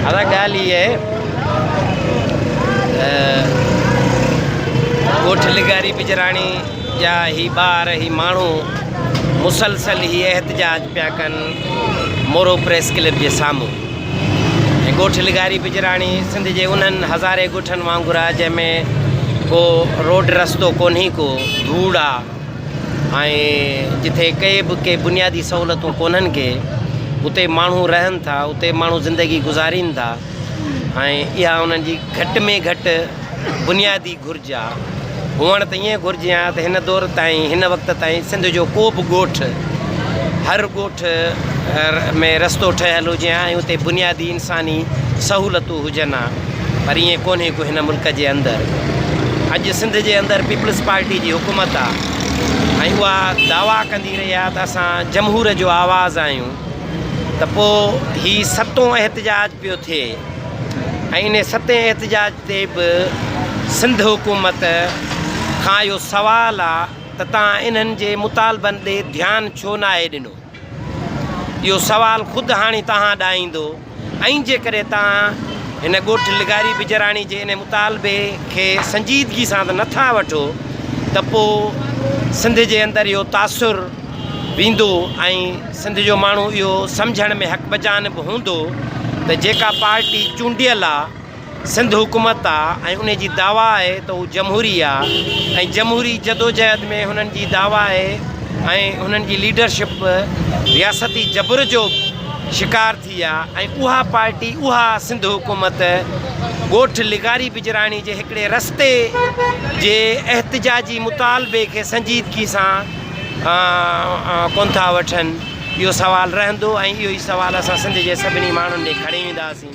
هر ڳالهه هي آهي ته ڳوٺ لغاري بجراڻي جا هي ٻار هي ماڻهو مسلسل هي احتجاج پيا ڪن مورو پريس ڪلب جي سامهون ۽ ڳوٺ لغاري بجراڻي سنڌ جي انهن هزارين ڳوٺن وانگر آهي جنهن ۾ ڪو روڊ رستو ڪونهي ڪو ڌوڙ آهي ۽ جتي ڪي به ڪي بنيادي سهولتون ڪونهن ڪي اتي ماڻهو رهن ٿا اتي ماڻهو زندگي گذارين ٿا ۽ اها انهن جي گهٽ ۾ گهٽ بنيادي گهرج آهي هئڻ ته ائين گهرجي آهي ته هن دور تائين هن وقت تائين سنڌ جو ڪو به ڳوٺ هر ڳوٺ ۾ رستو ٺهيل هجي ۽ اتي بنيادي انساني سهولتون هجن ها پر ائين ڪونهي ڪو هن ملڪ جي اندر اڄ سنڌ جي اندر پيپلز پارٽي جي حڪومت آ ۽ اها دعويٰ ڪندي رهي آ ته اسان جمهور جو آواز آهيون ته پو هي ستون احتجاج پيو ٿئي ۽ ان ستين احتجاج تي به سنڌ حڪومت کان اهو سوال آ ته تان انهن جي مطالبن ڏي ڌيان ڇو ناهي ڏنو. اهو سوال خود هاڻي توهان ڏانهن ايندو ۽ جيڪڏهن توهان هن ڳوٺ لغاري بجراڻي جي انهي مطالبي کي سنجيدگي سان ته نٿا وٺو ته پوء سنڌ جي اندر اهو تاثر ويندو ۽ سنڌ جو ماڻهو اهو سمجهڻ ۾ حق بجانب هوندو ته جيڪا پارٽي چونڊيل آهي سنڌ حڪومت آ ۽ انهي جي دعويٰ آهي ته هو جمهوري آ ۽ جمهوري جدوجهد ۾ هنن جي دعويٰ آهي ۽ هنن جي ليڊرشپ به رياستي جبر جو شڪار ٿي آ ۽ اها پارٽي اها سنڌ حڪومت ڳوٺ لغاري بجراڻي جي هڪڙي رستي جي احتجاجي مطالبي کي سنجيدگي سان ڪون ٿا وٺن اهو سوال رهندو ۽ اهو ئي سوال اسان سنڌ جي سڀني ماڻهن ڏي کڻي وينداسين.